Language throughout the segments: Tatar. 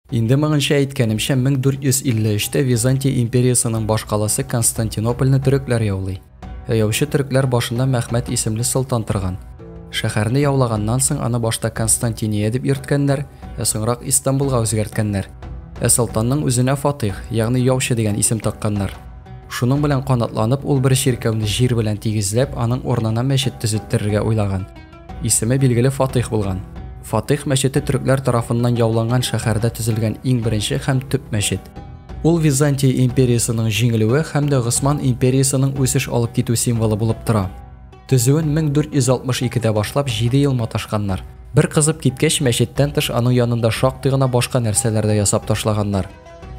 Инде моңынча әйткәнемчә, 1453 тә Византия империясының башкаласы Константинопольне төрекләр яулый. Ә яучы төрекләр башында Мәхмәт исемле солтан торган. Шәһәрне яулаганнан соң аны башта Константиния дип йөрткәннәр, ә соңрак Истанбулга үзгәрткәннәр. Ә солтанның үзенә Фатыйх, ягъни яучы дигән исем такканнар. Шуның белән канатланып, ул бер чиркәүне җир белән тигезләп, аның урынына мәчет төзеттерергә уйлаган. Исеме билгеле Фатыйх булган. Фатыйх мәчете төрекләр тарафыннан яуланган шәһәрдә төзелгән иң беренче һәм төп мәчет. Ул Византия империясының җиңелүе һәм дә Госман империясының үсеш алып китү символы булып тора. Төзүен 1462-дә башлап, җиде ел маташканнар. Бер кызып киткәч, мәчеттән тыш аның янында шактый гына башка нәрсәләр дә ясап ташлаганнар.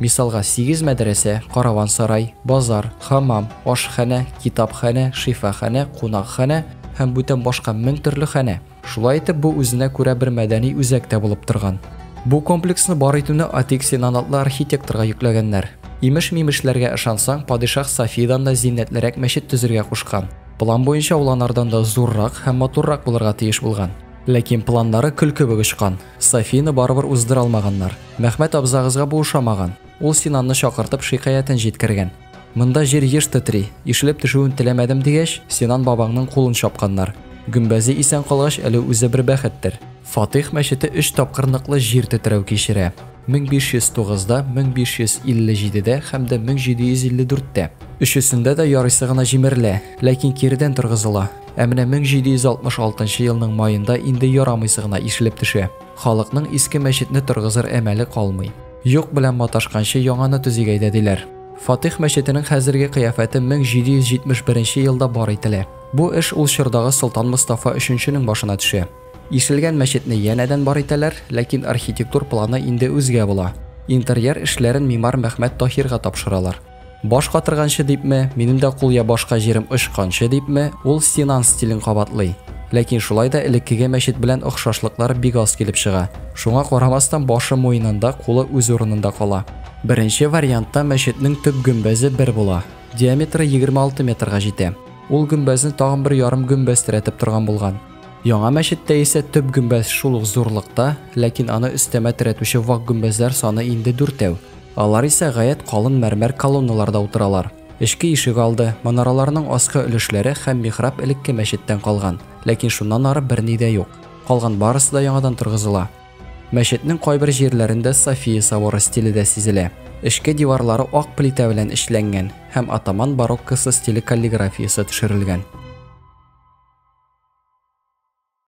Мисалга, сигез мәдрәсә, караван-сарай, базар, хамам, ашханә, китапханә, шифаханә, кунакханә һәм бүтән башка мең төрле ханә. Шулай итеп, бу үзенә күрә бер мәдәни үзәк тә булып торган. Бу комплексны бар итүне Атик Синан атлы архитекторга йөкләгәннәр. Имеш-мимешләргә ышансаң, падишаһ Сафидан да зиннәтлерәк мәчет төзергә кушкан. План буенча ул анардан да зуррак һәм матуррак булырга тиеш булган. Ләкин планнары көл кебек очкан. Софияне барыбер уздыра алмаганнар. Мәхмәт абзагызга бу ошамаган. Ул Синанны чакыртып, шикаятен җиткергән. Монда җир еш тетри, ишелеп төшүен теләмәдем, дигәч, Синан бабаңның кулын чапканнар. Гөмбәзе исән калгач, әле үзе бер бәхеттер. Фатих мәчете өч тапкыр ныклы җир тетрәү кичерә. 1509 да, 1557 дә һәм дә 1754 тә. Өчесендә дә ярыйсы гына җимерелә, ләкин киредән торгызыла. Ә менә 1766 елның маенда инде ярамыйсы гына ишелеп төшә. Халыкның иске мәчетне торгызыр әмәле калмый. Юк белән маташканчы яңаны төзик әйдә диләр. Фатих мәчетенең хәзерге кыяфәте 1771 елда бар ителә. Бу эш ул чордагы Солтан Мостафа өченченең башына төшә. Ишелгән мәчетне янәдән бар итәләр, ләкин архитектур планы инде үзгә була. Интерьер эшләрен мимар Мәхмәт Таһирга тапшыралар. Баш катырганчы дипме, минем дә кул я башка җирем очканчы дипме, ул Синан стилен кабатлый. Ләкин шулай да элеккеге мәчет белән охшашлыклар бик аз килеп чыга. Шуңа карамастан, башы муенында, кулы үз урынында кала. Беренче вариантта мәчетнең төп гөмбәзе бер була, диаметры егерме алты метрга җитә. Ул гөмбәзне тагын бер ярым гөмбәз терәтеп торган булган. Яңа мәчеттә исә төп гөмбәз шул ук зурлыкта, ләкин аны өстәмә терәтүче вак гөмбәзләр саны инде дүртәү. Алар исә гаять калын мәрмәр колонналарда утыралар. Эчке ишегалды, манараларның аскы өлешләре һәм михраб элекке мәчеттән калган, ләкин шуннан ары берни дә юк. Калган барысы да яңадан торгызыла. Мәчетнең кайбер җирләрендә София соборы стиле дә сизелә. Эчке диварлары ак плитә белән эшләнгән һәм атаман бароккосы стиле каллиграфиясе төшерелгән.